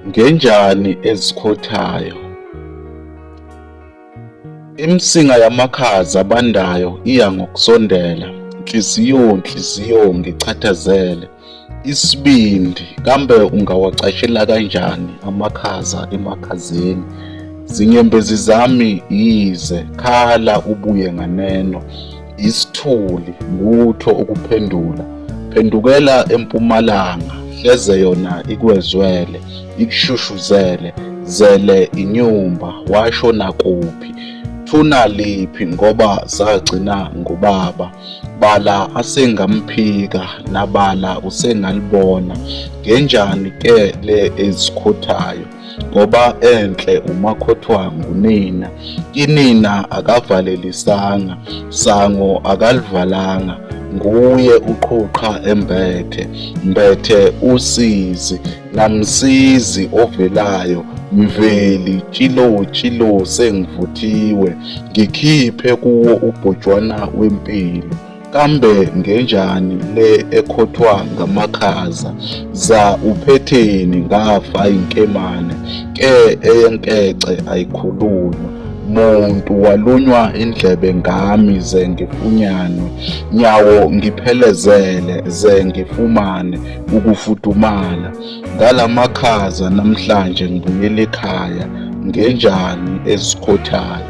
Ngenjani ezikhothayo. Imsinga yamakhaza abandayo iya ngokusondela, nhliziyo nhliziyo ngichathazele, isibindi kambe ungawacashela kanjani amakhaza emakhazeni, zinyembezi zami yize khala ubuye nganeno. isithuli lutho ukuphendula phendukela empumalanga hleze yona ikwezwele ikushushuzele zele inyumba washo nakuphi thuna liphi ngoba zagcina ngubaba bala asengamphika nabala usengalibona ngenjani ke le ezikhothayo ngoba enhle umakhothwangu nina inina akavalelisanga sango akalivalanga nguye uqhuqha embethe mbethe usizi namsizi ovelayo mveli tshilo tshilo sengivuthiwe ngikhiphe kuwo ubhojwana wempilo Kambe ngenjani le ekhothwa ngamakhaza za uphetheni ngafa inkemane ke eyenkece ayikhulunywa muntu walunywa indlebe ngami ze ngifunyanwe nyawo ngiphelezele ze ngifumane ukufudumala ngalamakhaza namhlanje ngibuyele ekhaya ngenjani ezikhothayo